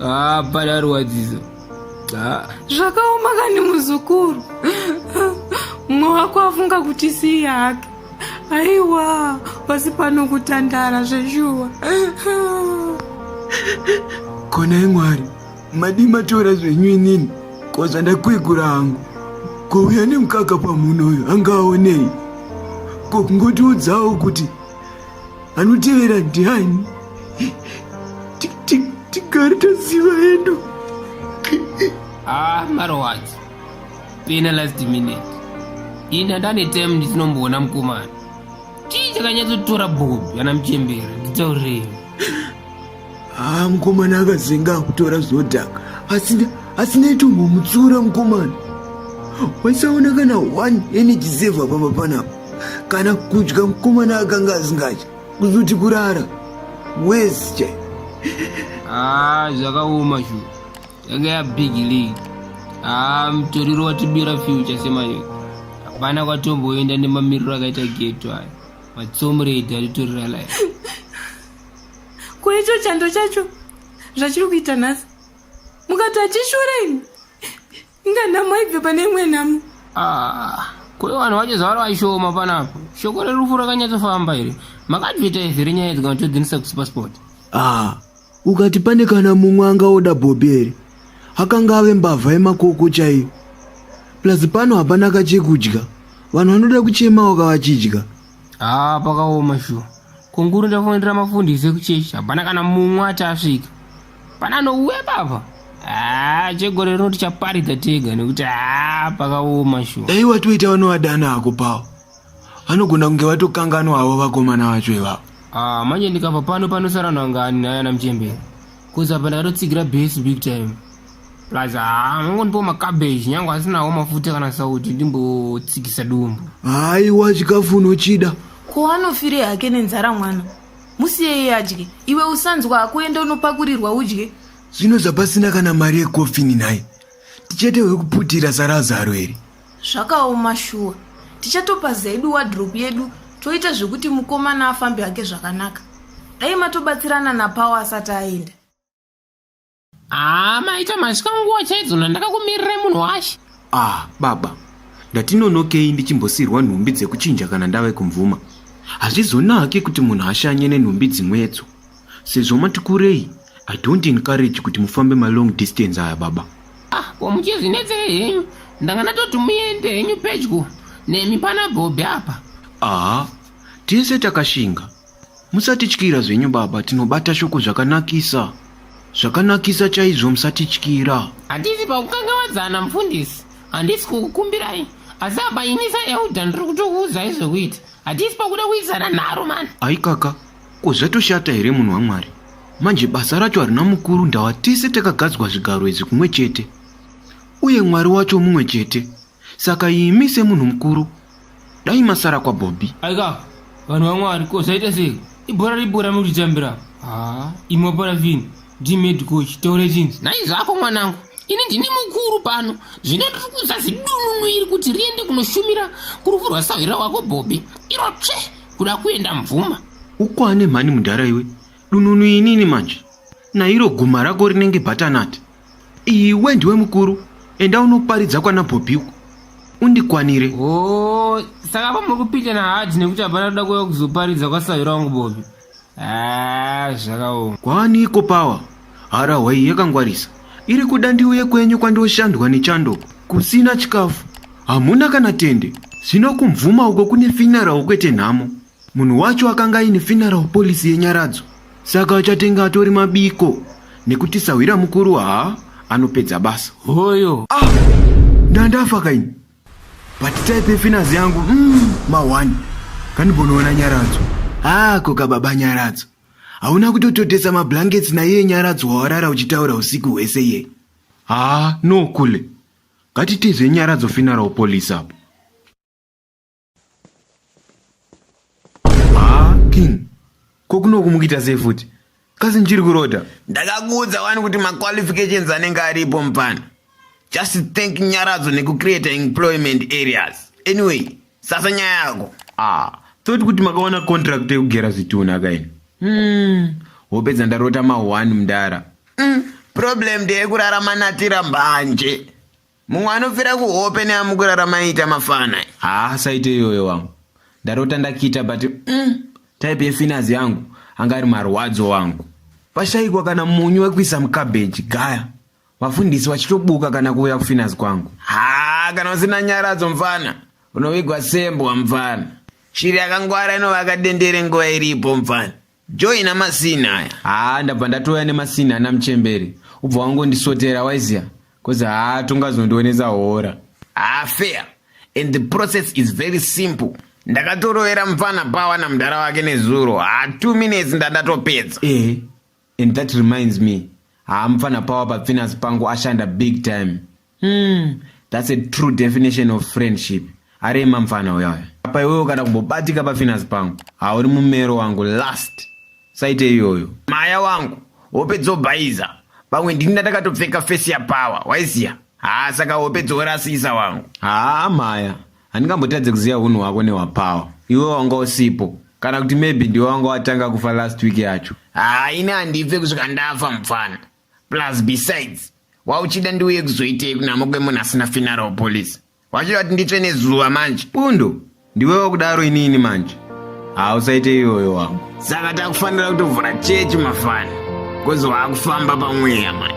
Ah, para rwadzizo. Ah. Zvakaoma kani muzukuru. Mumwe wako afunga kuti sii hake. Aiwa, pasi pano kutandara zveshuwa. Kona imwari, madi matora zvenyu inini, ko zvandakwegura hangu. Ko uya nemukaka pamunhu uyu angaonei? Ko kungotiudzawo kuti anotevera ndiani tigare taziva hedu ah marowati pena last minute ini andane time ndichinomboona mukomana chii chakanyatsotora bobi ana muchembera nditaurei haa mukomana akazenga akutora zodhaka asina asina itombomutsiura mukomana waisaona kana one energy saver pamba panapa kana kudya mukomana akanga asingatya kuzoti kurara wes chai haa ah, zvakaoma shu yanga ya big league haa ah, mutoriro watibira future semayo hapana kwatomboenda nemamiriro akaita geto aya matsomuredi atitorira life ko icho chando chacho zvachiri kuita nhasi mukati achishura ini inga nhamo aibve pane imwe nhamo ah, kune vanhu vacho zvavari vaishoma panapo shoko rerufu rakanyatsofamba iri makadvita izi renyaya idzi kana todzinisa kusupersport ah, ukati pane kana mumwe angaoda bhobi here akanga ave mbavha yemakoko chaiyo plus pano hapana kachekudya vanhu vanoda kuchema wakavachidya haa pakaoma shuwa kunguru ndafonera mafundisi ekuchechi hapana kana mumwe ati asvika pana anouya papa haa chegore rino tichaparidza tega nekuti haa pakaoma shuwa dai watoita vanowadana ako pawo vanogona kunge vatokanganwa havo vakomana vacho ivavo haa manje ndikabva pano panosara nangani nayana muchembere Cause apa ndakatotsigira base big time. Plus haa mongonipo macabbage nyange asinawo mafuta kana sauti ndimbotsikisa dumbu. Haiwa chikafu unochida. Ko anofire hake nenzara mwana. Musiye iye adye. Iwe usanzwa hako enda unopakurirwa udye. Zvino zvapasina kana mari yecoffin nhai. Tichete wekuputira sarazaro here. Zvakaoma shuwa. Tichatopaza yedu wardrobe yedu toita zvekuti mukomana afambe hake zvakanaka. Dai matobatsirana naPawo asati aenda. Haa maita masvika nguva chaidzo nandakakumirira munhu washe. Ah, baba. Ndatinonokei ndichimbosirwa nhumbi dzekuchinja kana ndave kumvuma. Hazvizonake kuti munhu ashanye nenhumbi dzimwedzo. Sezvo mati kurei, I don't encourage kuti mufambe ma long distance aya baba. Ah, ko muchizvinetsei henyu? Ndanga ndatoti muende henyu pedyo nemi pana Bobby apa. Aha, tese takashinga. Musatityira zvenyu baba, tinobata shoko zvakanakisa. Zvakanakisa chaizvo musatityira. Hatisi pakukangavadzana mufundisi, handisi kukukumbirai. Asi apa ini saelder ndiri kutokuudzai zvekuita. Hatisi pakuda kuisana nharo mani. Aikaka, Ko zvatoshata here munhu waMwari? Manje basa racho harina mukuru ndawa tese takagadzwa zvigaro izvi kumwe chete. Uye Mwari wacho mumwe chete. Saka imi semunhu mukuru dai masara kwaBobby. Aika vanhu vaMwari ko zvaita sei? Ibhora ribhora muri kutitambira. Ah, imwe parafini. Ndi med coach taure chini? Nhai zvako mwanangu. Ini ndini mukuru pano. Zvino ndiri kuudza zidununu iri kuti riende kunoshumira kurufu rwasahwira wako Bobby. Iro tsve kuda kuenda mvuma ukwane mhani mudhara iwe dununu inini manje nairo guma rako rinenge bhatanati iwe ndiwe mukuru enda unoparidza kwana bhobhi uko undikwanire o oh, saka pamuri kupinda nahadhi nekuti hapana kuda kuya kuzoparidza kwasairo wangu bhobhi Ah, zvakaoma. Kwani iko power harahwa iyi yakangwarisa iri kuda ndiuye kwenyu kwandoshandwa nechando kusina chikafu hamuna kana tende zvino kumvuma uko kune funeral kwete nhamo munhu wacho akanga aine funeral policy yenyaradzo saka achatenga atori mabiko nekuti sahwira mukuru haa anopedza basa Hoyo. ah ndandafa kaini but type yefinance yangu mm, mawani kandimbonoona nyaradzo hako kababa nyaradzo hauna kutototesa mablankets naiye nyaradzo wawarara uchitaura usiku hwese iye haa no kule ngatitizve nyaradzo finara upolice apo king ko kunoku mukuita sei futi kasi ndichiri kurota ndakakuudza wani kuti maqualifications anenge aripo mupana just thank nyaradzo nekucreate employment areas anyway sasa nyaya yako ah toti kuti makawana contract yekugera zvitunhu akaini hmm. hope dzandarota ma1 mdara mm. problem ndeyekurara manatira mbanje mumwe anobvira kuhope neamukurara maiita mafana haa saite iyoyo wangu ndarota ndakita but mm, type yefinas yangu anga ari marwadzo wangu pashaikwa kana munyu wekuisa mukabheji gaya vafundisi vachitobuka kana kuuya kufinas kwangu haa kana usina nyaradzo mfana unovigwa sembwa mfana shiri yakangwara inovaka dendere nguva iripo mfana joina masini aya haa ndabva ndatouya nemasini ana muchemberi ubva wangondisotera waiziva bcause haa tongazondionesa hora haa fair and the process is very simple ndakatorovera mupfana pawa namudhara wake nezuro haa two minutes ndandatopedza ehe and that reminds me haa mupfana pawa papfinasi pangu ashanda big time Hmm, that's a true definition of friendship. Ari mamfana uya uya. Apa iwewe kana kumbobatika pafinance pangu. Hauri mumero wangu last. Saite iyoyo. Maya wangu, hope dzobhaiza. Pamwe ndini ndatakatopfeka face ya power, waiziya? Haa saka hope dzorasisa wangu. Haa Maya, handingambotadze kuziva hunhu hwako nehwapower. Iwe wanga usipo. Kana kuti maybe ndiwe wanga watanga kufa last week yacho. Haa ini handibve kusvika ndafa mupfana. plus besides wauchida ndiuye kuzoitei kunamo kwemunhu asina finara wepolice wachida kuti nditsve nezuva manje pundo ndiwe wakudaro inini manje hausaite iyoyo wangu saka takufanira kutovhura chechi mafana kozi waakufamba pamweya manje